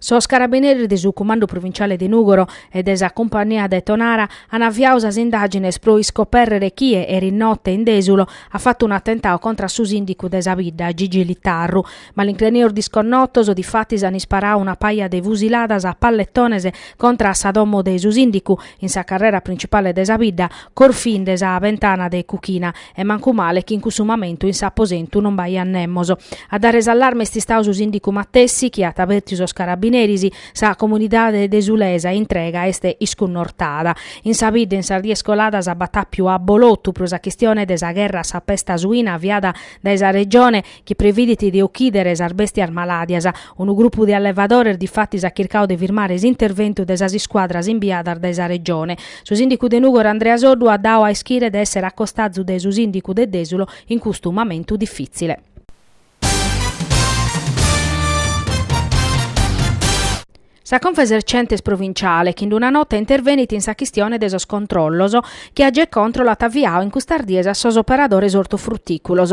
Sos carabineris de su Cumandu Provinciale de Nùgoro e de sa Cumpannia de Tonara an aviadu sas indàgines pro iscopèrrere chie, erinote, in Dèsulo, at fatu un'atentadu contra a su sìndicu de sa bidda, Gigi Littarru. Malincrenios disconnotos, difatis, an isparadu una paja de fusiladas a palletones contra a sa domo de su sìndicu in sa carrera principale de sa bidda, corfinde sa bentana de cuchina, e mancu male chi in cussu momentu in s'aposentu non b'aiat nemos. A dare s'allarme est istadu su sìndicu matessi chi at abertiu sos carabineris, sa comunidade desulesa intrega est iscunnortada. In sa bidda in sas dies coladas b'at àpiu abolotu pro sa chistione de sa gherra a sa pesta suina aviada dae sa Regione, chi previdit de ochidere sas bèstias malàdias. Unu grupu de allevadores difatis at chircadu de firmare s'interventu de sas iscuadras imbiadas dae sa Regione. Su sìndicu de Nùgoro Andrea Soddu at dadu a ischire de èssere a costazu de su sìndicu de Dèsulo in custu momentu difìtzile. Sa Confesercentes Provinciale chi in una nota intervenit in sa chistione de sos controllos chi Agecontrol at aviadu in custas dies a sos operadores ortofrutìculos.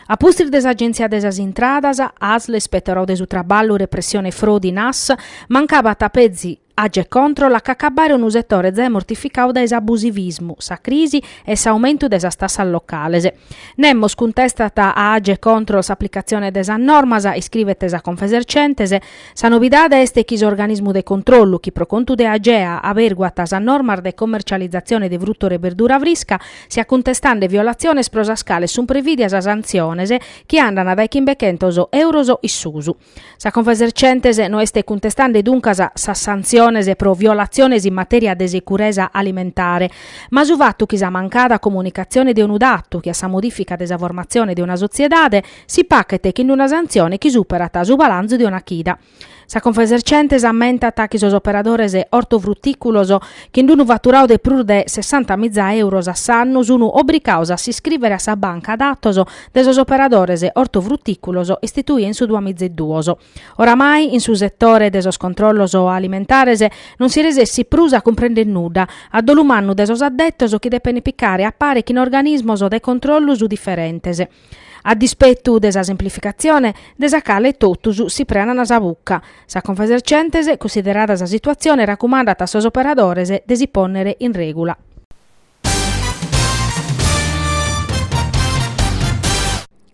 A pustis de s'Agèntzia de sas Intradas, Asl, Ispetorau de su Traballu, Repressione Frodi, Nas, mancabat petzi Agecontrol a ch'acabbare unu setore zai mortificadu dae s'abusivismu, sa crisi e s'aumentu de sas tassas locales. Nemos cuntestat a Agecontrol s'aplicatzione de sas normas, iscribet sa Confesercentes. Sa novidade est chi s'organismu de controllu, chi pro contu de Agea aberguat sas normas de commercializatzione de frutore e berdura frisca, siat cuntestande violatziones pro sas cales sunt previdias santziones chi andant dae chimbe-chentos euros in susu. Sa Confesercentes no est cuntestande duncas sas santziones pro violatziones in matèria de securesa alimentare, ma su fatu chi sa mancada comunicatzione de unu datu che a sa modìfica de sa formatzione de una sotziedade si pachet chin una santzione chi superat su balanzu de una chida. Sa Confesercentes ammentat chi sos operadores ortofrutìculos chin d'unu faturadu de prus de sessanta miza èuros a s'annu sunu obrigados a s'iscrìvere a sa banca datos de sos operadores ortofrutìculos istituida in su duamizeduos. Oramai in su setore de sos controllos alimentares non si resessit prus a cumprender nudda, a dolu mannu de sos addetos chi depent picare a pare chin organismos de controllos diferentes. A dispetu de sa semplificatzione, de sa cale totus si prenant sa buca, sa Confesercentes, cunsiderada sa situatzione, racumandat a sos operadores de si pònnere in règula.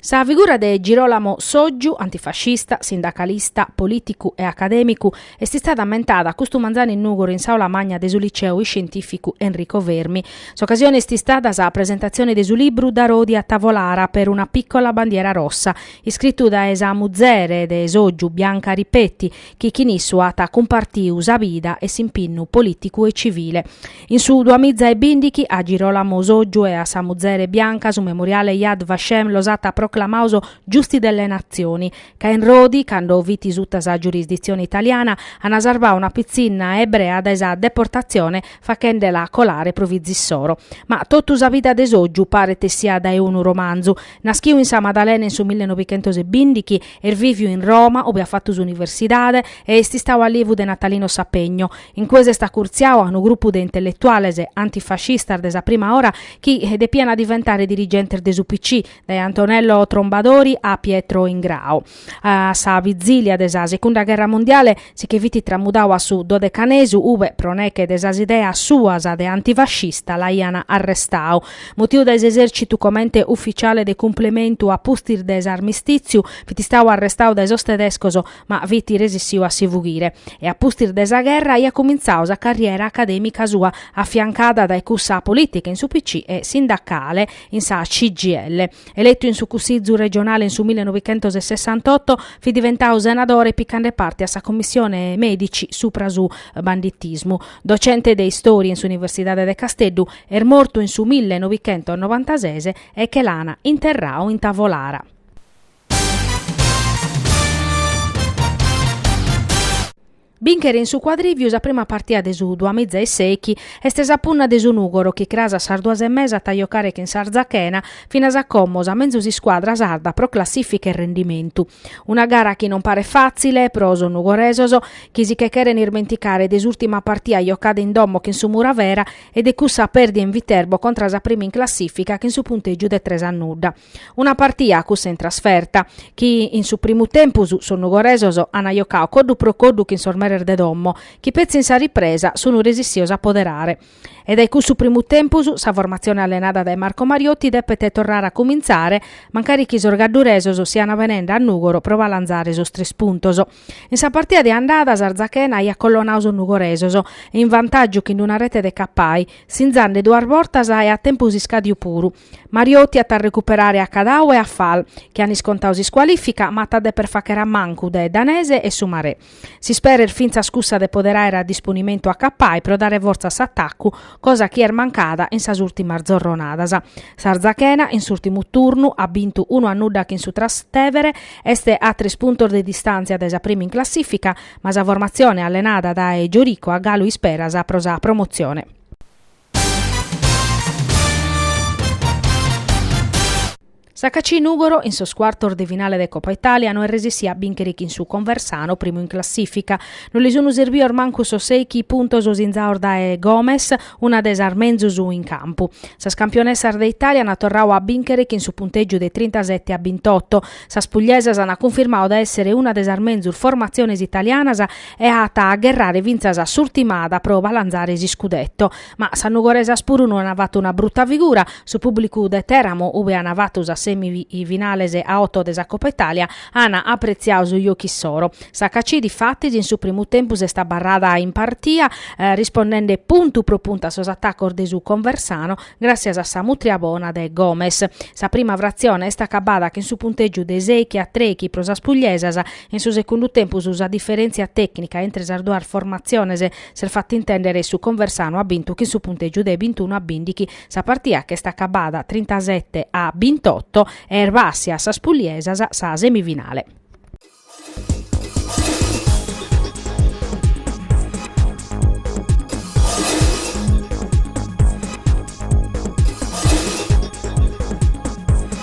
Sa figura de Girolamo Sotgiu, antifascista, sindacalista, polìticu e acadèmicu, est istada ammentada custu manzanu in Nùgoro in s'aula magna de su Liceu iscientìficu Enrico Fermi. S'ocasione est istada sa presentatzione de su libru Da Rodi a Tavolara per una piccola bandiera rossa, iscritu dae sa muzere de Sotgiu, Bianca Ripetti, chi chin issu at cumpartiu sa bida e s'impinnu polìticu e civile. In su duamiza e bindighi a Girolamo Sotgiu e a sa muzere Bianca su memoriale Yad Vashem los at proclamados giusti delle nazioni, ca in Rodi, cando fit suta sa giurisditzione italiana, an sarvadu una pitzinna ebrea dae sa deportatzione fachende-la colare pro fiza issoro. Ma totu sa vida de Sotgiu paret essiat dae unu romanzu. Naschiu in sa Madalena in su millenovichentos e bindighi, est viviu in Roma, ube at fatu s'universidade e est istadu allievu de Natalino Sapegno. In cue s'est acurtziadu a unu grupu de intelletuales antifascistas de sa prima ora chi depiant diventare dirigentes de su PCI, dae Antonello Trombadori a Pietro Ingrao. A sa vizilia de sa Secunda Gherra Mundiale si che fit tramudadu a su Dodecanesu, ube, pro neche de sas ideas suas de antifascista, l'aiant arrestadu. Mutiu dae s'esèrcitu comente ufficiale de cumplementu a pustis de s'armistìtziu, fit istadu arrestadu dae sos tedescos, ma fit resissiu a si fughire e a pustis de sa gherra aiat cumintzau sa carriera acadèmica sua afiancada dae cussa polìtica in su PCI e sindacale in sa CGIL. Eletu in su Cussizu regionale in su millenovichentosessantotto, fit diventau senadore picande parte a sa Commissione Medici supra su banditismu. Docente de Istoria in s'Universidade de Casteddu, est mortu in su millenovichentosnovantases e che l'ana interrau in Tavolara. Bìnchere in su Cuadrìviu sa prima partida de su duamiza e sèichi est sa punna de su Nùgoro chi cras a sas duas e mesa at a jocare chin s'Arzachena finas a como sa menzus iscuadra sarda pro classìfica e rendimentu. Una gara chi non paret fàtzile pro sos nugoresos chi si che cheren ismenticare de s'ùrtima partida jocada in domo chin su Muravera e de cussa pèrdida in Viterbo contra sa prima in classìfica chin su puntègiu de tres a nudda. Una partia, cussa in trasferta, chi in su primu tempus sos nugoresos an jocadu coddu pro coddu chin sos meres de domo, chi petzi in sa ripresa sun resissios a poderare. E dae cussu primu tempus sa formatzione allenada dae Marco Mariotti depet torrare a cumintzare, mancari chi sos gadduresos sian benende a Nùgoro pro balanzare sos tres puntos. In sa partia de andada s'Arzachena aiat collonadu sos nugoresos in vantàgiu chin una rete de Cappai, sinzande duas bortas e a tempus iscàdiu puru, Mariotti at a recuperare a Cadau e a Fal, chi an iscontadu s'iscualìfica, ma at a deper fàghere a mancu de Danese e su Marè. S'ispera est fintzas cussa de poder àere a disponimentu a Capai pro dare fortza a s'atacu, cosa chi est mancada in sas ùrtimas zorronadas. S'Arzachena, in s'ùrtimu turnu, at bintu unu a nudda chin su Trastevere, est a tres puntos de distàntzia dae sa prima in classìfica, ma sa formatzione allenada dae Giorico at galu isperas pro sa promotzione. Sa HAC Nùgoro, in sos cuartos de finale de Copa Italia, no est resessida a bìnchere chin su Conversano, primu in classìfica. No li sun sirbidos mancu sos sèighi puntos sinzados dae Gomes, una de sas menzus in campu. Sas campionessas de Italia ant torradu a bìnchere chin su puntègiu de trintasete a bintoto. Sas pugliesas ant cunfirmadu de èssere una de sas menzus formatziones italianas e at a gherrare fintzas a s'urtimada pro balanzare s'iscudetto. Ma sas nugoresas puru no an fatu una bruta figura, su pùblicu de Teramo, ube an fatu sas semi finales a oto de sa Coppa Italia, at apretziadu su jocu issoro. Sa HAC difatis in su primu tempus est abarrada in partia, rispondende puntu pro puntu a sos atacos de su Conversano, gràssias a sa mutria bona de Gomes. Sa prima fratzione est acabada chin su puntègiu de sèighi a trèighi pro sas pugliesas, In su segundu tempus sa diferèntzia tècnica intre sas duas formatziones s'est fata intèndere e su Conversano at bintu chin su puntègiu de bintunu a bìndighi sa partida ch'est acabada trintasete a bintotto e est bàssia a sas pugliesas sa semifinale.